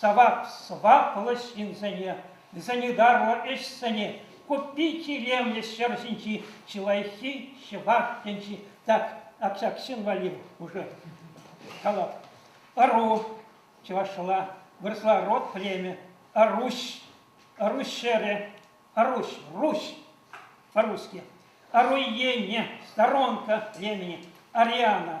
сӑваплӑ ҫынсене, санитарлӑ ӗҫсене купи тӳремлӗ ҫӗр ҫинчи чи лайӑххи чӑваш тӗнчи. Так, общаксин валли уже калав. Ыру, чӑвашла вырсла род племя, Арусь, Арусь ҫӗрӗ, Арусь, Русь по-русски, Аруйене, сторонка племени, Ариана,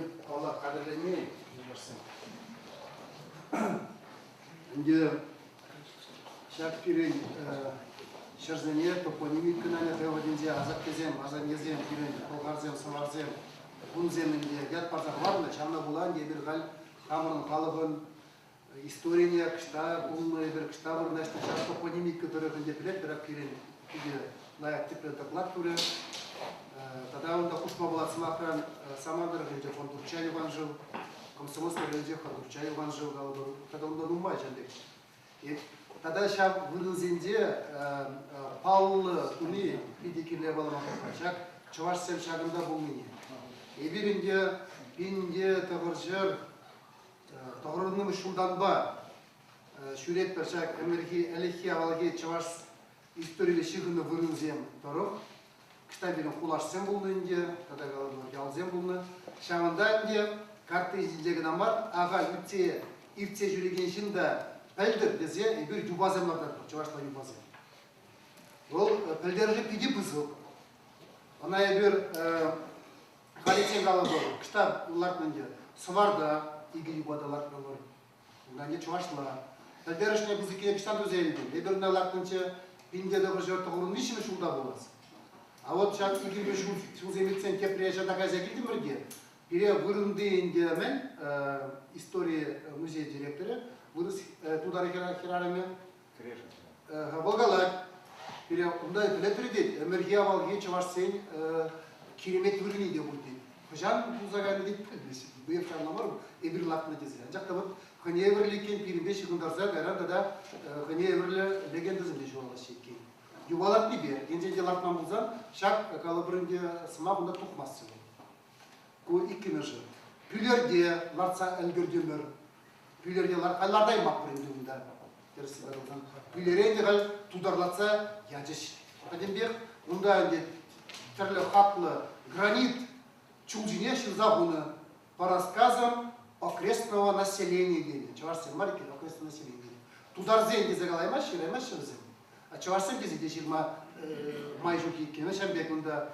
Эп алла хатӗрленмен юлашсем. Ӗнтӗ ҫак пирӗн ҫӗрсене топонимик кӑна теводенсе асаттесем, асаннесем, пирӗн пӑлхарсем, сӑварсем, кунсем ӗнтӗ ят парса хӑварнӑ. Ҫавна пула эпир халь хамӑрӑн халӑхӑн Историне кӑҫта кунлнӑ эпир кӑҫта вырнаҫнӑ ҫав топонимика тӑрӑхӗнче пӗлетпӗрех пирӗн питӗ лайӑх тӗплӗ доклад пулӗ. Тата унта хушма пулать сӑмахран Самар тӑрӑхӗнче фон Турча Йӑван шыв, Комсомольски районӗнче фон Турча Йӑван шыв калӑпӑр тата унта нумай ҫын пек. Тата ҫав вырӑнсенче паллӑ туни питӗ кирлӗ палӑрма пулать. Ҫак чӑвашсем ҫакӑнта пулнине. Эпир ӗнтӗ пин те тӑхӑрҫӗр Тӑхӑрӑннӑмӗш ҫултанпа ҫӳретпӗр ҫак ӗмӗрхи ӗлӗкхи-авалхи чӑваш историлле ҫыхӑннӑ вырӑнсем тӑрӑх. Кӑҫта пирӗн хулашсем пулнӑ ӗнтӗ тата ялсем пулнӑ. Ҫавӑнта ӗнтӗ картти ҫинче кӑна мар, ахаль иртсе иртсе ҫӳрекен ҫын та пӗлтӗр тесе эпир юпасем лартатпӑр, чӑвашла юпасем. Вӑл пӗлтерӗшӗ питӗ пысӑк. Ӑна эпир Халиччен калатӑп, кӑҫта лартнӑ ӗнтӗ Сӑварта, икӗ юпада лартнӑ Унта ӗнтӗ чӑвашла. Пӗлтерӗшлӗ пысӑккине кӑҫта туса илтӗм. Эпир унта лартнӑччӗ пинте тӑхӑрҫӑ тӑхӑрӑн виҫҫӗмӗш ҫулта пулас. А вот ҫак икӗ ҫул ҫулсем иртсен тепре ҫата кайса килтӗмӗр те, пире вырӑнти ӗнтӗ мӗн истори музей директорӗ, вырӑс тутар хӗрарӑмӗ Кӗрешӗнче. Волгалак пире унта пӗлетӗр тет. Ӗмӗрхи авалхи чӑвашсен киремет вырӑнне те пур тет. Хӑҫан пулса кайнӑ тет пӗлмест. Быев ҫавна мар, эпир лакнӑ тесе. Анчах та вот хӑйне евӗрлӗ иккен пирӗнпе ҫыхӑнтарса кайран тата хӑйне евӗрлӗ легендӑсем те ҫуралаҫҫӗ иккен. Юхалатнипе, енчен те лартман пулсан, ҫак калӑпӑр ӗнтӗ сӑмах унта тухмасть сюжет. Ку иккӗмӗшӗ. Пӳлерте лартса ӗлкӗртӗмӗр. Пӳлерте лартаймаппӑр ӗнтӗ унта. Тӗрӗс каласан. Пӳлере те халь тутарлатса ячӗҫ. Пӗтӗмпех унта ӗнтӗ тӗрлӗ хаклӑ гранит чул ҫине ҫырса хунӑ. По рассказам окрестного населения тенӗ. Чӑвашсем мар иккен, окрестное население. Тутарсен тесе калаймаҫҫӗ, калаймаҫҫӗ вӗсем. чӑвашсем тесе те ҫырма май ҫук иккен. Вӗсем пек унта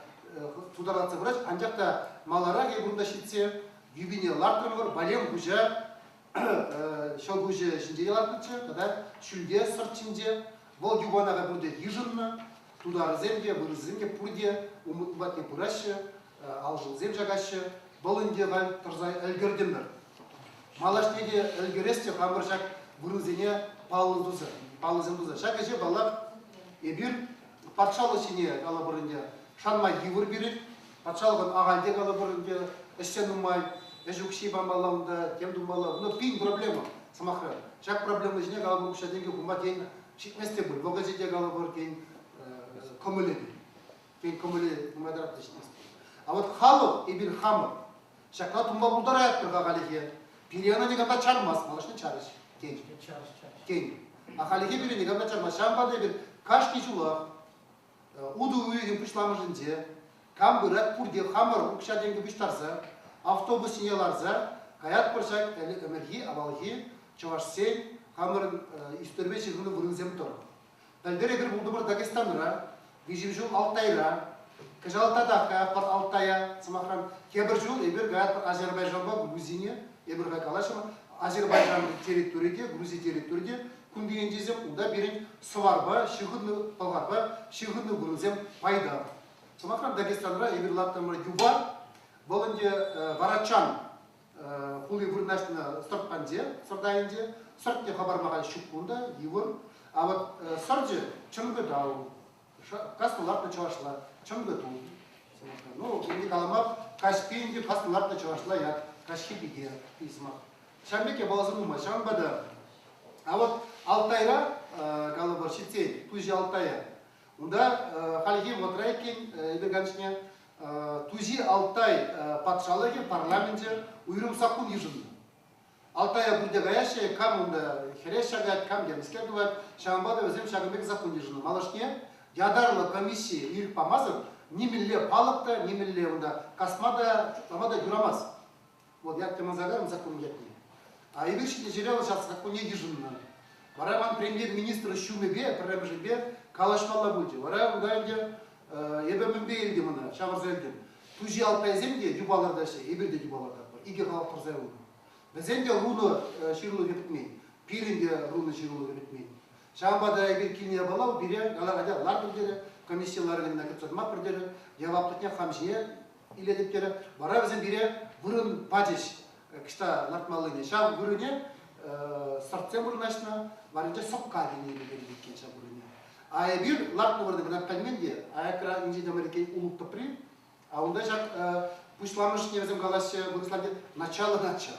тутарлатса пырать. Анчах та маларах эпир унта ҫитсе юбине лартрӑмӑр. Валем хуҫа ҫӑл куҫӗ ҫинче те лартнӑччӗ тата ҫӳлте, сӑрт ҫинче. Вӑл юпана та пурте йышӑннӑ. Тутарӗсем те, вырӑссем те пурте умӑт патне пыраҫҫӗ. алшӑлсем чакаҫҫӗ. Вӑл ӗнтӗ халь тӑрса ӗлкӗртӗмӗр. Малашне те ӗлкӗрес те хамӑр ҫак вырӑнсене паллӑ туса, паллӑсем туса. Ҫак ӗҫе, паллах, эпир патшалӑх ҫине калӑпӑр ӗнтӗ, шанма йывӑр пирӗн. Патшалӑхӑн ахальте калӑпӑр ӗнтӗ, ӗҫсе нумай, ӗҫ укҫи памалла унта, тем тумалла. Но пин проблема, сӑмахра. Ҫак проблема ҫине калӑпӑр укҫа-тенкӗ хума тен, ҫитмест те пуль. Вӑхӑчӗ те калӑпӑр, тен, кӑмӑлӗ те. Пин кӑмӑле нумайтарах тӗҫлести. А вот халӑх, эпир хамӑр. Ҫакна тунма пултараятпӑр-ха халӗхе. Пире ӑна никам та чармасть, малашне чарӗҫ. Тен. Чарӑш, чарӑш. Тен. А халӗхе пире никам та чармасть. Ҫавӑнпа та эпир кашни ҫулах э, утӑ уйӑхӗн пуҫламӑшӗнче кам пырать, пурте хамӑр укҫа-тенкӗ пуҫтарса, автобус ҫине ларса каятпӑр ҫак ӗмӗрхи, авалхи чӑвашсен хамӑрӑн э, ӳстерме ҫыхӑннӑ вырӑнсем тӑрӑх. Пӗлтӗр эпир пултӑмӑр Дагестанра, виҫӗм ҫул Алтайра, кӑҫал тата каятпӑр Алтая. Сӑмахран, тепӗр ҫул эпир каятпӑр Азербайджанпа Грузине. Эпир хай калаҫӑмӑр, Азербайджан территори те, Грузи территори те кунти ентешсем унта пирӗн сӑварпа, ҫыхӑннӑ пӑлхарпа ҫыхӑннӑ вырӑнсем пайта. Сӑмахран, Дагестанра эпир лартрӑмӑр юпа, вӑл ӗнтӗ варачан хули вырнаҫнӑ сӑрт панче сӑрт айӗнче сӑртне хӑпарма халь ҫук кунта йывӑр а вот сӑрчӗ чыргытау каснӑ лартнӑ чӑвашла чыргыту ну не каламар каҫпи инди каснӑ лартнӑ чӑвашла як каҫхи пике письма ҫавӑн пек япаласа нумай ҫавӑнпа та а вот алтайра калӑпӑр ҫитсен туҫи алтая унта хальхи вӑтра иккен эпе Тузи Алтай патшалӑхӗ парламенчӗ уйрӑм саккун йышӑннӑ. Алтая пурте каяҫҫӗ, кам унта хӗрес ҫакать, кам темскер тӑвать, ҫавӑнпа та вӗсем ҫакӑн пек саккун йышӑннӑ. Малашне ятарлӑ комисси ирӗк памасӑр нимӗнле палӑк та, нимӗнле унта касма та, шутлама та юрамасть. Вӑл ятпа мӑнсакарӑн саккун ятне, а эпир ҫитӗ ҫӗре вӑл ҫак саккуне йышӑннӑ. Вара ман премьер-министр ҫумӗпе пӗрремӗшӗпе калаҫмалла пулчӗ. Вара унта ӗнтӗ эпӗ мӗнпе илтӗм ӑна, ҫавӑрса илтӗм. Туҫи Алпайсем те юпа лартаҫҫӗ, эпир те юпа лартатпӑр. Икӗ халап тӑрса юлнӑ. Вӗсен те рунӑ ҫырулӑхӗ пӗтмен, пирӗн те рунӑ ҫырулӑхӗ пӗтмен. Ҫавӑнпа та эпир килне япала пире галаганя лартӑр терӗ, комисси ларӑвне кӗтсе тӑмаппӑр терӗ, яваплӑхне хам ҫине илетӗп терӗ. Вара вӗсем пире вырӑн пачӗҫ кӑҫта лартмаллине. Ҫав вырӑне сортсем вырнаҫнӑ, варӗнче сӑпка килнӗ пекех иккен ҫав вырӑне. А эпир лартнӑ кӑна пӗлмен те, аякра инҫе те мар иккен улӑп тӑпри. А унта ҫак пуҫламӑшне вӗсем калаҫҫӗ, вырӑсларти начало начал.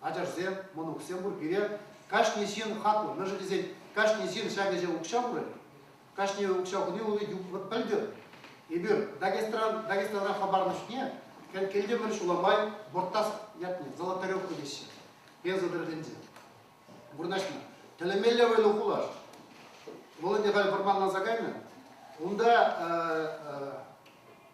ачашсем, мӑнуксем пур пире. Кашни ҫын хаклӑ. Мӗншӗн тесен кашни ҫын ҫак ӗҫе укҫа пурать. Кашни укҫа хуни вӑл вӑт пӗлтӗр. Эпир Дагестан, Дагестанра хӑпарнӑ чухне кӗлтемӗр ҫула май борттас ятне золоторевка теҫҫӗ. Пенса тӗрӗсенче. Вырнаҫнӑ. Тӗлӗмелле вӑйлӑ хулаш. Вӑл ӗнтӗ халь вӑрманланса кайнӑ. Унта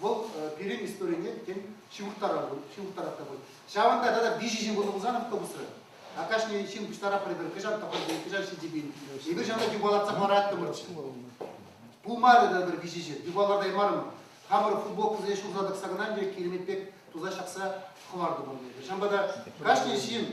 вӑл пирӗн историне тен ҫывӑрттарать та пуль. Ҫавӑнта тата виҫӗ ҫын пулса пулсан автобусра. А кашни ҫын пуҫтарапрӗ пӗр кӑҫал тӑхӑртин, кӑҫал ҫитӗпин. Эпир ҫавна юпалатса хӑвараттӑмӑрччӗ. Пулмарӗ та пӗр виҫӗ ҫын, юпалартаймарӑм. Хамӑр футболкӑсене ҫурса тӑкса кӑна ӗнтӗ киремет пек туса ҫакса хӑвартӑмӑр эпир. Ҫавӑнпа та кашни ҫын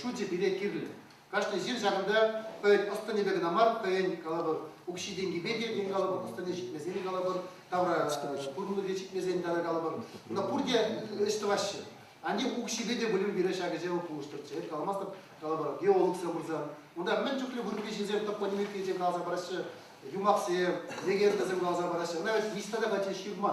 шучӗ пире кирлӗ. Кашни ҫын ҫакӑнта хӑйӗн ӑс-тӑнӗпе кӑна мар, хӑйӗн, калӑпӑр, укҫи-тенкипе те тен, калӑпӑр, ӑс-тӑнӗ ҫитмесен, калӑпӑр, тавра пурӑннипе ҫитмесен тата, калӑпӑр, ӑна пурте ӗҫ тӑваҫҫӗ. Анчах укҫипе те пулин пире ҫакӑ-ҫавӑ пулӑштӑрччӗ, эп каламастӑп, калӑпӑр, геологсем пырсан. Унтах мӗн чухлӗ вырӑнти ҫынсем топонимикӑсенчен каласа параҫҫӗ, юмахсем, легендӑсем каласа параҫҫӗ, ӑна вӗт ниҫта та пачӗҫ ҫырма.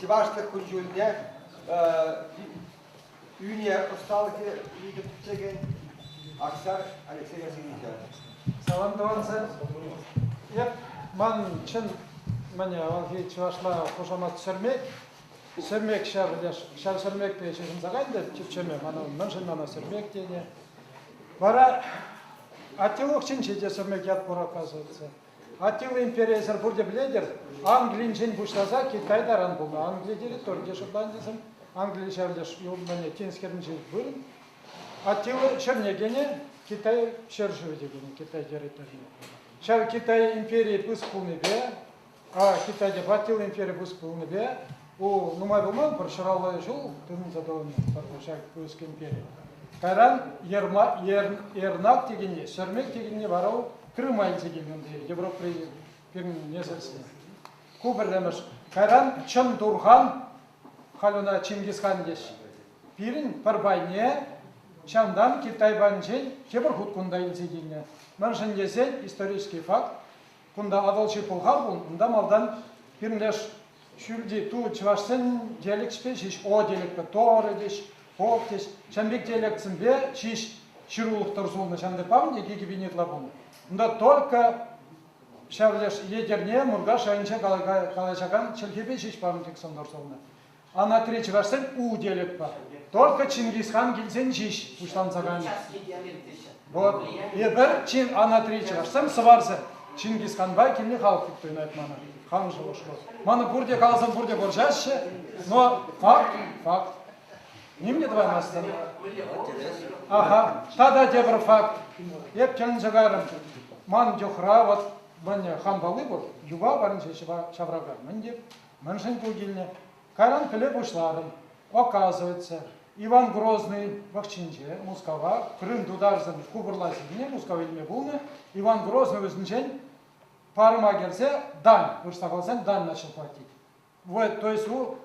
чӑвашлӑх кун-ҫулне ӳне ӑсталӑхӗ питӗ пӗччекен Аксар Алексей Васильевича. Салам тӑвансем. Эп ман чӑн мӗне авалхи чӑвашла хушамат сӗрмек, сӗрмек ҫав ҫав сӗрмекпе ҫыхӑнса кайнӑ чӗчеме мана мӗншӗн мана сӗрмек тенӗ. Вара Атилов чинче те сӗрмек ят пур оказывается. Аттила империйӗсӗр пурте пӗлетӗр, Англинчен пуҫласа Китай таран пулнӑ. Англи территорине шутлантӑсем Англин ҫав леш юлманӗ Тинс хӗрринчи вырӑн. Аттила ҫӗрне кӗнӗ, Китай ҫӗршывӗ те кӗнӗ Китай территорине. Ҫав Китай империйӗ пыс пулнипе, а Китайпа Аттила империйӗ пыс пулнипе Ку нумай пулман пӗр ҫураллӑ ҫул тытӑнса тӑнӑ ҫак пӳрескемпе. Кайран Ернак текенне, Ҫӗрмек текенне вара Крыма илсе килнӗ унти Европӑри пирӗн несӗлсене. Ку пӗрремӗш. Кайран чӑн турхан, халь ӑна Чингисхан теҫҫӗ. Пирӗн пӗр пайне чантан Китай банчӗн тепӗр хут кунта илсе килнӗ. Мӗншӗн тесен исторический факт, Кунта Атӑлҫи пӑлхав пулнӑ, унта малтан пӗрлеш ҫӳлти ту чӑвашсен диалекчӗпе ҫеҫ о диалектпе торы тӗҫ, по тӗҫ, ҫамрӑк диалектсемпе ҫеҫ ҫырулӑх тӑр сулнӑ. Ҫантӑрпам йӗки кӗпине ытла пулнӑ. Унта только ҫав леш Етӗрне, Муркаш районӗнче калаҫакан чӗлхепе ҫеҫ памӑк Александр сулнӑ. Анатри чӑвашсем у тетӗп. Только Чингисхан килсен ҫеҫ пуҫланса кайнӑ. Вот. Эпир, чин Анатри чӑвашсем, сӑварсем Чингисханпа килни халӑх туптӑнать мана. Хан шухӑшлӑ. Мана пурте каласам, пурте вӑрҫаҫҫӗ, но факт, факт. Ним те тӑваймастӑн. Ага, тата тепӗр факт. Эп тен чӑкарӑм. Ман чухра вот вӑнне хан палли пур, юпа парӑнчӗ ҫаврака. Мӗн те, Мӗншӗн ку килнӗ? Кайран пӗле пуҫларӑм. Оказывается, Иван Грозный вӑхҫинче Мускава Крым тутарсен хупӑрлассине Мускав илме пулнӑ. Иван Грозный ӳсӗнчен парӑма кӗрсе дань, вырӑсла каласан дань начал платить. Вот, то есть, у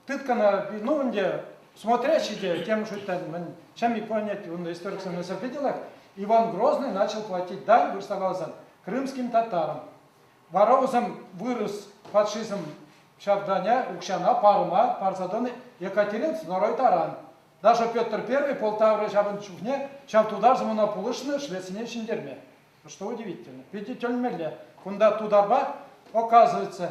тыткана, ну, ӗнтӗ смотрящий те тем шуттан, мӗн, чем и понять, он историксем не видела, Иван Грозный начал платить дань, вырӑсла каласан, крымским татарам. Вара вӗсем вырӑс фашизм ҫартанӗ укҫана парӑма парса тӑнӑ Екатерин II таран. Даже Петр I Полтавӑри ҫавӑн чухне ҫав тутарсем ӑна пулӑшнӑ Швецине ҫӗнтерме. Что удивительно. Питӗ тӗлӗнмелле. Кунта тутарпа, оказывается,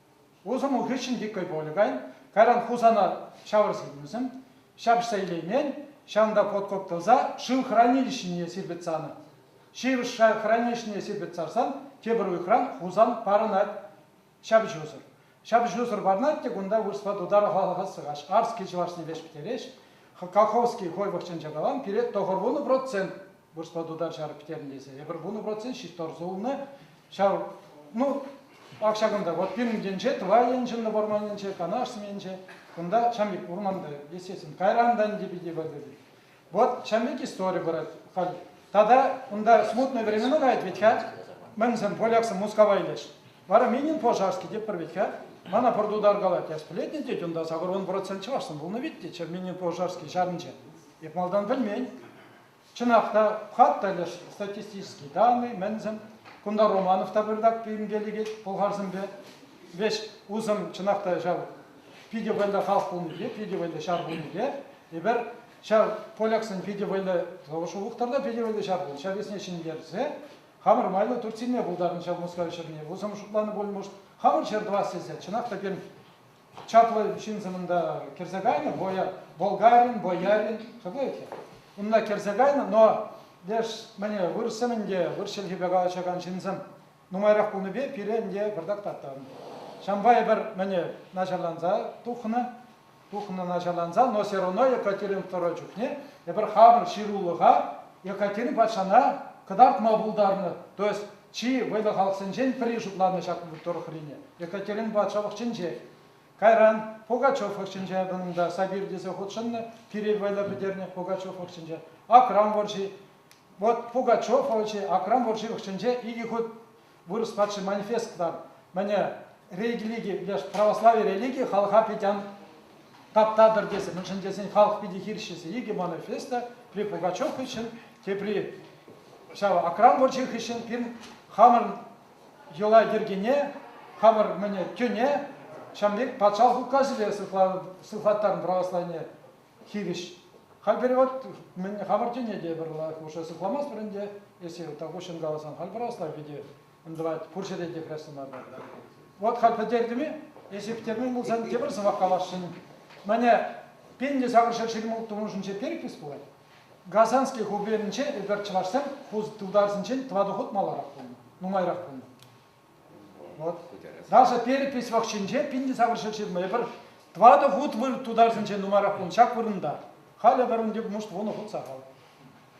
Улшӑну хыҫҫӑн дикой-Волгань, кайран Хусана ҫавӑрса илнӗшӗн, ҫапӑҫса илеймен, ҫавӑнта подкоп тӑлса шыв хранилищине сирпӗтсе анать. Ҫывӑх шыв хранилищине сирпӗтсе сарсан тепӗр уйӑхран Хусан парӑнать ҫапӑҫусӑр. Ҫапӑҫусӑр парӑнать те кунта вырӑсла тутар халӑхассӑхаҫ Арский чӑвашне леҫ пӗтереҫ. Колхозский хой вӑхӑтчен чакалан пире тӑхӑр вунӑ процент вырӑсла тутар ҫар пӗтернӗ тесе. Эпир вунӑ процент ҫиттарса улнӑ. Ҫав, ну, ак ҫакӑнта, вот пирӗн енче, Тӑвай енче, вӑрман енче, Канаш енче, кунта ҫам пек урманта, естественно, кайран та ӗнтӗ питӗ выртать. Вот ҫам пек истори вырать халь. Тата кунта смутные времена каять ведь-ха. Мӗнсем поляксем Мускава илеш. Вара Минин Пожарский теппӗр ведь-ха. Мана пӗр тутар калать, я сплетни тет, унта сакӑр он процент чӑвашсем пулнӑ вит те, Черменин Пожарский ҫарӗнче. Эп малтан пӗлмен. Чӑнах та, хат пӗлӗш, статистические данные, мӗншӗн кунта Романов та пыртак пӳлӗмке лекет пӑлхарсемпе. Веҫ усӑм чӑнах та ҫав питӗ вӑйлӑ халӑх пулнипе, питӗ вӑйлӑ ҫар пулнипе, эпир ҫав поляксен питӗ вӑйлӑ шухӑхтӑр та питӗ вӑйлӑ ҫар пулнӑ, ҫав весне ҫӗнтерсе хамӑр майлӑ Турт сирме пултарнӑ ҫав Мускав ҫӗрне, усӑм шутланӑ пулмӑш, хамӑр ҫӗр тӑвас тесе, чӑнах та пирӗн чаплӑ ҫынсӑмӑн та кӗрсе кайнӑ, Воя, болгарин, боярин, шаплать-и? Унла кӗрсе кайнӑ, но леш мӗне вырӑссемӗн те вырӑс чӗлхипе калаҫакан ҫынсем нумайрах пулнипе пире ӗнтӗ пӑртак таттӑм. Ҫампай пӗр мӗне начарланса тухнӑ, тухнӑ начарланса, но все равно Екатерин II чухне эпир хамӑр ҫырулӑха Екатерин патшана кӑтартма пултарнӑ. То есть Чи вӑйлӑ халӑхсенчен пӗри шутланӑ ҫак тӑрӑхрине Екатеринпа Чӑвӑхченчех. Кайран Пугачев вӑрҫинче унта Сабир тесе хутшӑннӑ, пире вӑйлӑ пӗтернӗ Пугачев вӑрҫинче, Акрам вӑрҫи. Вӑт Пугачев вӑрҫи Акрам вӑрҫи вӑхҫинче икӗ хут вырӑс патши манифест кӑларнӑ. Мӗне религи, православи религи халӑха питӗ ан таптатӑр тесе мӗншӗн тесен халӑх питӗ хирӗҫҫесе икӗ манифеста при Пугачев хыҫҫӑн, тепри ҫав Акран вӑрҫи хыҫҫӑн пирӗн хамӑр йӑла-йӗркене, хамӑр мӗне тӳне ҫавӑн пек патшалӑх указӗпе сыхлаттарнӑ православие хирӗҫ. Халь пирӗн вот мӗн хамӑр тӳне те пӗр хушӑ сыхламастпӑр ӗнтӗ, если так уҫҫӑн каласан, халь православи те Ӑнтӑлать. Пур ҫӗре те хрестланатӑр. Вот халь пӗтердӗм-и? Эс ирттермен пулсан тепӗр сӑмах каласшӑн. Мане, пиллӗ сакӑр ҫӗр ҫырмулттӑмӑшӗнче перепись пулать. Казанский губернинче эпир чӑвашсем пус тултарсенчен тӑватӑ хут маларах пулнӑ, нумайрах пулнӑ. Вот. Даже перепись вӑхҫинче пиллӗ сакӑр ҫӗр ҫырма эпир тӑватӑ хут выр тутарсенчен нумайрах пулнӑ ҫак вырӑнта. Халӗ вырӑн тӗп муст вунӑ хут сахал.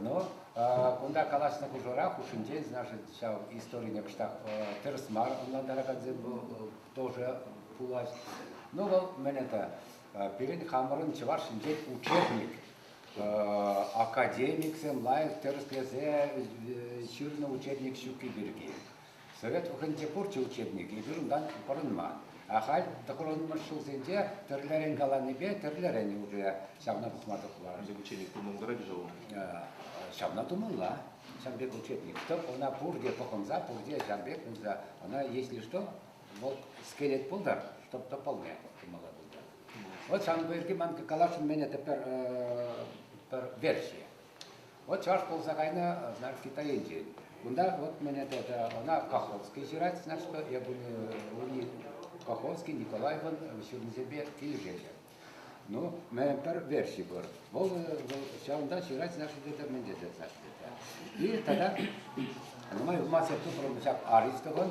Ну, кунта калаҫнӑ хушӑра хушшинче наши ҫав историне кӑштах тӗрӗс мар ӑнлантаракансем тоже пулаҫ. Ну вӑл мӗн это? Пирӗн хамӑрӑн чӑваш ҫинчен учебник. Академиксем лайӑх тӗрӗслесе ҫырнӑ учебник ҫукки пирки. Совет вӑхӑтӗнче пурте учебнике вырӑнтан пӑрӑнман. Ахаль тӑхӑрӑнмӑш ҫулсенче тӗрлӗрен каланипе тӗрлӗрен уҫӑ ҫавна пӑхма тухман. Вӗсем учебник тумлантаратчӗ-ха унӑн. Ҫавна тумалла. Ҫав пек учебник-тӑк, ӑна пурте пӑхӑнса, пурте ҫав пек пулса, ӑна, если что, вӑл скелет пултӑр, чтоб тӑпӑлне тумалла пултӑр. Вот сан пирки ман каласшӑн мене тепер пӗр версия. Вӑт чӑваш пулса кайнӑ, значит, Китай енчен. Кунта вот мене это, она Каховский ҫырать, значит, я буду Каховский Николаевӑн ҫырнисемпе килӗшеҫҫӗ. Ну, мен пӗр версий пур. Вӑл, вӑл ҫавӑнта ҫырать, значит, это мӗн тесе, значит, это. И тогда мы в массе тупрӑм ҫак Аристовӑн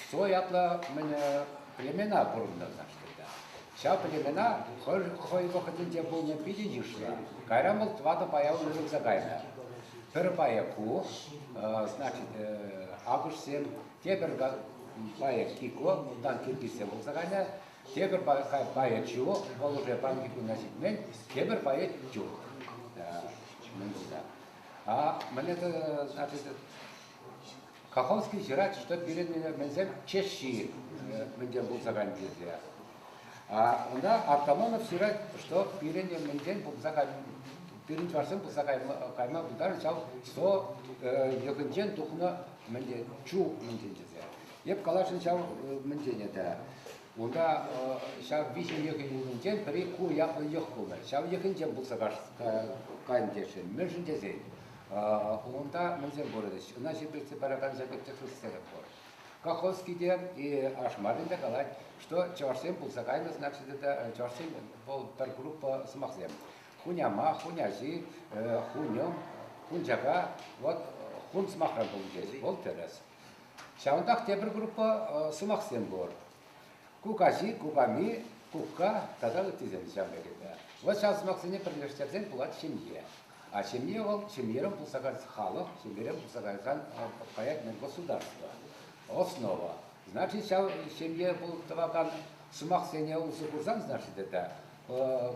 Что ятлӑ племена пурӑнтӑрсаштӑр та. Ҫав племена хӑй вӑхӑтӗнче пулнӑ питӗ йышлӑ. Кайран вӑл тӑватӑ пая уйрӑлса кайнӑ. Пӗр пая ку, значит, акӑшсем, тепӗр пая кико, унтан киргизсем пулса кайнӑ. Тепӗр пая чу, вӑл уже паньки кунна ҫитмен, тепӗр пая тюк. Мӗн пулса. А мӗне значит, Каховский ҫырать, что пирӗн мӗнсем чешҫи мӗнтен пулса кайнӑ тесе. Ӑна Артамонов ҫырать, что пирӗн мӗнтен пулса кайнӑ пирӗн чӑвашсем пулса кайма, кайма пултарнӑ ҫав со йӑхӗнчен тухнӑ мӗнтен чу мӗнтен тесе. Эп каласшӑн ҫав мӗнтен это. Унта ҫав виҫӗ йӑхӗн умӗнчен пӗри ку ятлӑ йӑх пулнӑ. Ҫав йӑхӗнчен пырса кайнӑ тесен, мӗншӗн тесен унта мӗнсем вырӑнӗҫ? Ӑна ҫирӗплетсе паракан ҫакӑ техносцена пур. Колхозский те Ашмарин те калать, что чӑвашсем пулса кайнӑ, значит, это чӑвашсен вӑл пӗр группа сӑмахсем. Хуняма, хуняҫи, хуньӑм, хунчака, вот хун сӑмахран пулчӗҫ, вӑл тӗрӗс. Ҫавӑнтах тепӗр группа сӑмахсем пур. Кукаҫи, куками, кукка тата ыттисем ҫав текелте. Вӑл ҫав сӑмахсене пӗрлештерсен пулать ҫемье. А ҫемье вӑл ҫемьерен пулса кайсан халӑх, ҫемьерен пулса кайсан каять мӗн государство, основа. Значит, ҫав ҫемье пулӑх тӑвакан сӑмахсене усӑ курсан, значит, это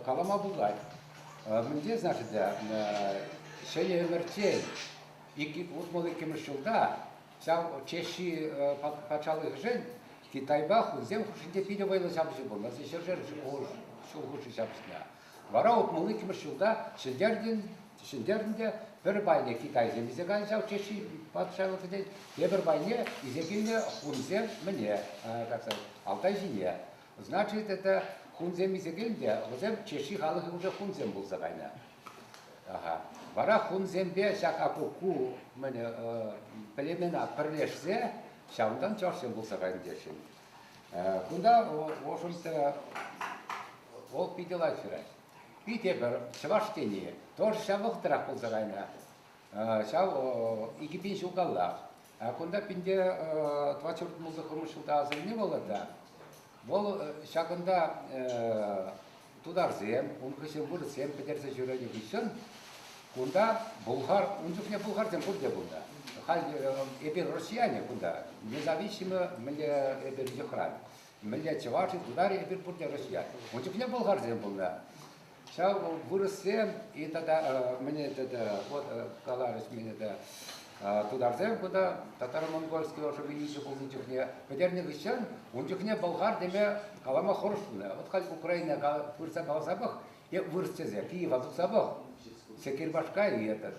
калама пулать. Мӗнле, значит, ҫӗнӗ ӗмӗрччен утмӑл иккӗмӗш ҫулта ҫав Чехи патшалӑхӗшӗн Китайпа хунсем хушшинче питӗ вӑйлӑ ҫапӑҫу пулнӑ. Ҫӗршер ҫул хушши ҫапӑҫнӑ. Вара утмӑл иккӗмӗш ҫулта ҫӗнтернӗ те пӗр пайне китайсем илсе кайнӑ ҫав Чехи патшалӑхӗнчен, тепӗр пайне илсе килнӗ хунсем мӗне Алтай ҫине. Значит, это хунсем илсе килнӗ те вӗсем Чехи халӑхӗ уже хунсем пулса кайнӑ. Вара хунсемпе ҫак акуку-мӗн племена пӗрлешсе ҫавӑнтан чӑвашсем пулса кайнӑ теҫҫӗ. Кунта ошентӗ вӑл питӗ лайӑх ҫырать. Питӗ пӗр чӑваш тени тоже ҫавӑхтарах пулса кайнӑ. Ҫав икӗ пин ҫул каллах. Кунта пинте 24 мулсӑхӑмӑш ҫулта асӑнни вӑл та. Вӑл ҫакӑнта тутарсем, ункӑсем, вырӑссем пӗтерсе ҫӳренӗ хыҫҫӑн кунта булгар, ун чухне булгарсем пурте пулнӑ. Халь эпир россияне кунта независимо мӗнле эпир йӑхран, мӗнле чӑваш, тутар эпир пурте россиян. Ун чухне булгарсем пулнӑ. Ҫав вырӑссем и тата мне тата вот каларӗҫ мне тата тутарсем кунта татаро-монгольский ӑшӑ вилӗҫӗ пулнӑ чухне пӗтернӗ хыҫҫан ун чухне Болгар теме калама хӑрушӑ пулнӑ. Вот халь Украина пырса каласа пӑх, е вырӑсчесе Киева тухса пӑх, Секирбашка и этот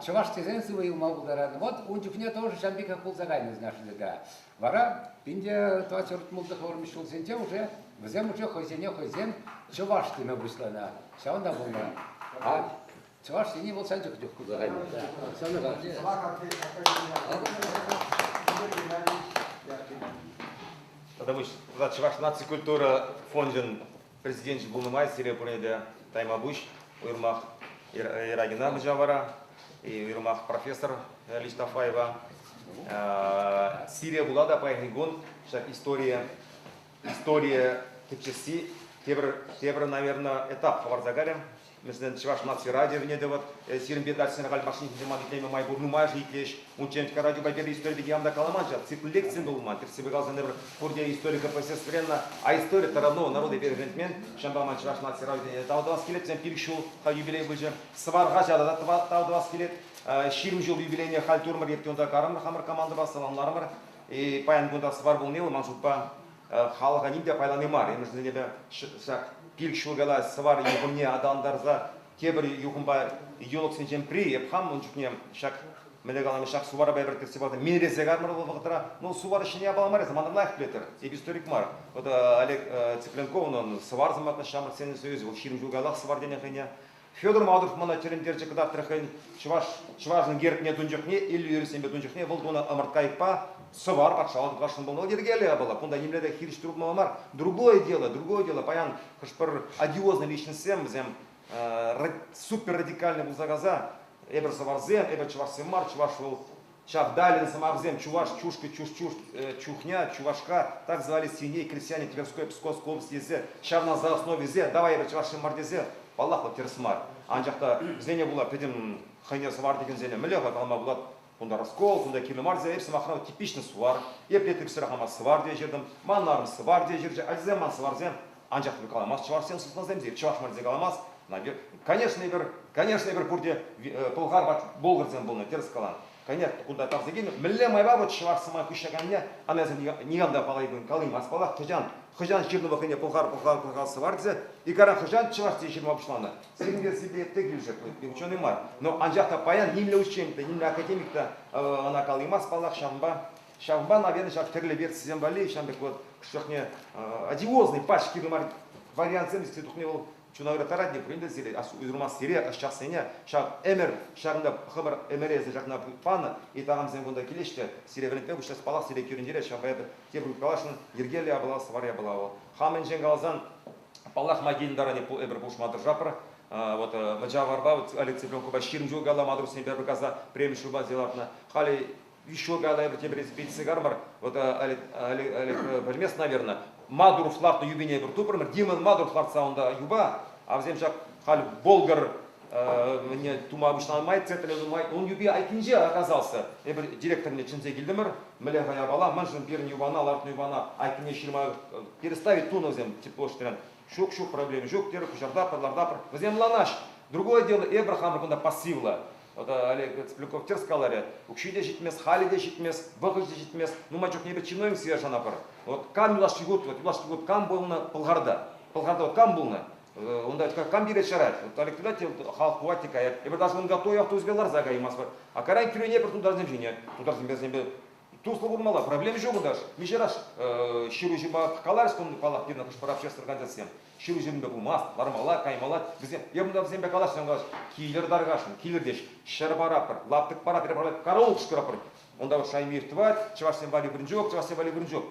чӑваш тесен сывӑ юлма пултарать. Вот ун чухне тоже ҫam пекех пулса кайнӑ нашсега. Вара пинде тӑватҫӑрт мултӑ хӑвармиш ҫулсенче уже вӗсем уже хӑйсене хӑйсем чӑваш теме пуҫланӑ. Ҫавӑнта пулнӑ. А чӑваш ене вӑл сан чух чух пулса кайнӑ. Ҫавна Тата пуҫ, тата Чӑваш наци культура фончӗн Президенчӗ пулнӑ май сире пурне те таймапуҫ уйрӑмах Ирагина хӑҫа вара, уйрӑмах профессор Лиштафаева. Сире пула та паянхи кун ҫак история, история тӗпчесси тепӗр, тепӗр, наверное, этап хӑварса кайрӗ. Вӗсен чӑваш наци радиовне тӑвӑр. Сирӗн пек ачасен халь машина ҫинче ман итлеме май пур нумайӑшӗ итлеҫ. Унччен радиопа пӗрле истори пирки никам та каламан ҫав, цикл лекцисем те пулман. Тӗртсе пӑхасшӑн эпир пурте историка профессоренна, а истори таранного народа перешентмен. Ҫавӑнпа ман чӑваш наци радиовне тав тӑвас килет. Сен пилӗк ҫул хай юбилей пычӗ. Сӑвар хаҫата та тав тӑвас килет. Ҫирӗм ҫул юбилейне халь турӑмӑр. Эпте унта карӑмӑр хамӑр командӑпа саламларӑмӑр. Паян кунта сӑвар пулни вӑл ман шутпа халӑха ним те пайлани мар. Ӗмӗрсене ҫак пилӗк ҫул кала сӑвар юхӑмне аталантарса тепӗр юхӑмпа юлӑхсенчен пӗри. Эп хам ун чухне ҫак мӗнле каламен ҫак суварпа эпир кӗтсе пӑхса минресе катмӑр вӑл вӑхӑтра. Ну, сувар ҫине япала мар, самантан лайӑх пӗлетӗр. Эп историк мар. Вот Олег Цыпленков унӑн сӑвар сӑмахне ҫамрӑк Союзӗ, вӑл ҫирӗм ҫул каялах сӑвар тенӗ хӑйне. Федор Мавров мана тӗлӗнтерчӗк кӑтартрӗ хӑйӗн чӑваш, чӑвашӑн гербне тун чухне, Иллюрисемпе тун чухне вӑл тунӑ ӑмӑрткайӑкпа сӑвар патшалӑх тулашҫӑн пулмалла йӗркеллӗ япала. Кунта нимле те хирӗҫ туртмалла мар. Другое дело, другое дело. Паян хӑш-пӗр одиозлӑ личностсем вӗсем супер радикальный пулса кайса эпир сӑварсем, эпир чӑвашсем мар, чӑваш вӑл Чавдалин сӑмахӗсем чӑваш чушкӑ чушчушт чухня чувашка так звали свиней крестьяне Тверской Пскос область тесе ҫавна за основисе давай эпир чӑвашсем мар тесе паллах вот тӗрӗс мар анчах та вӗсене пула пӗтӗм хӑйне сӑвар текенсене мӗнле-ха калама пулать кунта раскол кунта кино мар тесе эп сӑмахран типичный сувар епле типсӗрех ман сувар те ҫыртӑм манарӑм сувар те ҫырчӗ а сем ман суварсем Анчах эпир каламасть, чӑвашсем сыснасем те чӑваш мар тесе каламасть. Конечно, эпир, конечно, эпир пурте пӑлхар ват болгарсем пулнӑ, терӗс калан. Конечно, кунта тавсе килнӗ. Мӗнле майпа вот чӑваш сӑмах пуҫҫаканне, анасем никам та паллайман, калаймасть паллах. Хӑҫан, хӑҫан ҫырнӑ вӑхӑтне пӑлхар, пӑлхар, пӑлхар сӑвар тесе. Икара хӑҫан чӑваш тесе ҫырма пуҫланӑ? Сирӗн версипе те килӗшет, ученый мар. Но анчах та паян нимле учен те, нимле академик та ӑна калаймасть паллах ҫавӑнпа. Ҫавӑнпа, наверное, ҫав тӗрлӗ версисем валли ҫавӑн пек вот чухне одиозный пачки вариантсем если тухне вӑл чуна говоря таратне премдесире ырмассире ӑсчахсене ҫак ӗмӗр ҫакӑнта хӑмӑр ӗмӗресе ҫакна панӑ и тагамсем кунта килеҫҫӗ сире вӗрентпе пуҫлас палах сире кӳрентере ҫавӑнпа эпӗ тепӗр каласшӑн йӗркелле апла сӑвар япала вӑл хамӗнчен каласан паллах магин даране эпир пулӑшма тӑрӑшапӑр вот мӑчаварпа Алексей Пленкопа ҫирӗм ҫул калла матӑр сенпе пӗр каса преми шуба лартнӑ халӗ Еще наверное, тепре спеццигармар, вот Олег, Олег, Олег Бельмес, наверное, Мадуров лартнӑ юпине пӗр тупрӑмӑр, Димон Мадуров лартса унта юпа, а вӗсем ҫак халь Болгар не тума обычнамай цетлемай он юпи айккинче оказался эпир директорне чӗнсе килтӗмӗр мӗле хаяпала маншӑн пирӗн юпана лартнӑ юпана айккине ҫырма переставить тунӑ вӗсем тепло Ҫук, ҫук, проблема ҫук, терӗ куҫарта пӗр лартапӑр. Вӗсем ӑнланаҫҫӗ. Другое дело, эпӗр хамӑр кунта пассивлӑ. Олег Сплюков тӗрӗс каларӗ, укҫи те ҫитмест, халӗ те ҫитмест, вӑхӑчӗ те ҫитмест. Нумай чухне эпӗ чиновниксене шанапӑр. Вот кам юлашки год, вот юлашки год кам пулнӑ Пӑлхарта? Пӑлхарта вот кам пулнӑ? Унта кам киле чарать? Вот Олег тытать, халӑх хӑвать те каять. Эпӗр даже ун готовый автобусӗпе ларса каймастпӑр. А кайран кӳрене пӗр тутарсем ҫинӗ. Тутарсемпе Туслӑ пулмалла, проблема ҫук унта. Миҫе раз ҫыруҫӑпа каларӗҫ тунӑ, паллах, пирӗн хӑш-пӗр общество кандидатсем. Ҫыруҫӑсемпе пулмасть, лармалла, каймалла. Вӗсем, эпӗ унта вӗсемпе калаҫнӑ калаҫ, килӗр таркашӑн, килӗртеҫ, ҫӗр паратпӑр, лаптӑк паратпӑр, караулкӑш кураппӑр. Унта вот Шаймир тӑвать, чӑвашсем валли вырӑнчук, чӑвашсем валли вырӑнчук.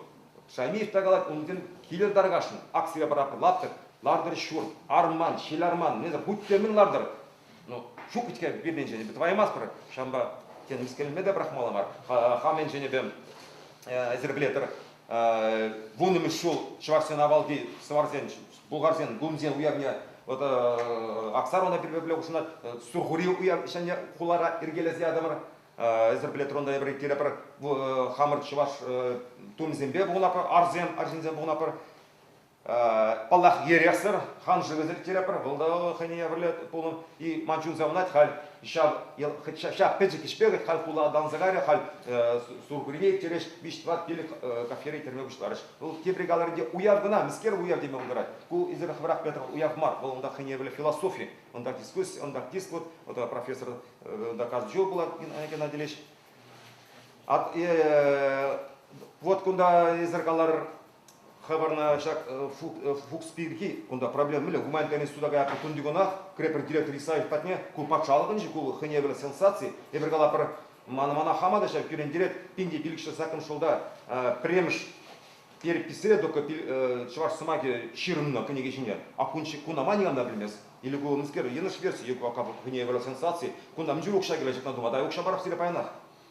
Шаймир та калать, унтен килӗр таркашӑн, акцие паратпӑр, лаптӑк, лартӑр ҫурт, арман, ҫил арман, несӗр, будь те мӗн лартӑр, Ну, ҫук-ҫке пирӗнчен эпӗ тӑваймастпӑр. Ҫавӑнпа тен мӗскӗнме те пӑрахмалла мар. Хам енчен эпӗ эсерплетер вуннӑмӗш ҫул чӑвашсен авалхи сӑварсен, булгарсен гунсен уявне вот Аксарона пирӗнпе хушӑнать Сурхури уяв ҫӗнӗ хулара иркелесе ятӑмӑр. Эсерплетер унта эпир кирепӗр хамӑр чӑваш тумӗсемпе пухӑнапӑр, арсем, арҫынсем пухӑнапӑр. Паллах, эрех-сӑр хан шывӗсене кӗтерпӗр, вӑл та хӑйне евӗрлӗ пулнӑ. И ман чунса ӑнать халь ҫав, ҫав пӗчӗк ӗҫпе вӗт халь хула ӑнланса кайрӗ, халь Сурхурине иртерех виҫ-тӑват пилӗк кафере кӗрме пуҫларӗҫ. Вӑл тепри каларӗнче уяв кӑна, мӗскер уяв теме пултарать. Ку эсир хӑвӑрах пӗлетӗр, уяв мар, вӑл унта хӑйне евӗрлӗ философи, унта дискуссия, унта диск, вот профессор унта каждый ҫул пулать Геннадий Ильич. Вот кунта эсир калар Хабарна ҫак фукс пирки кунта проблема мӗнле? Гуманитарный суда каяппи кундикунах кӗрепер директор Исаев патне ку патшалӑхӑнчи ку хӑйне евӗрлӗ сенсаци, эпир кала пӗр мана мана хама та ҫав кӳрентерет пинте пилӗкҫӗ закон шулта пӗрремӗш переписьре только чӑваш сӑмахӗ ҫырӑннӑ кӗнеке ҫине. А куна ма никам та пӗлмест? Или ку мӗскер йӑнӑш версия, ку хӑйне евӗрлӗ сенсаци, кунта мӗн чух укҫа килет ҫакна тума, та укҫа парах сире паянах.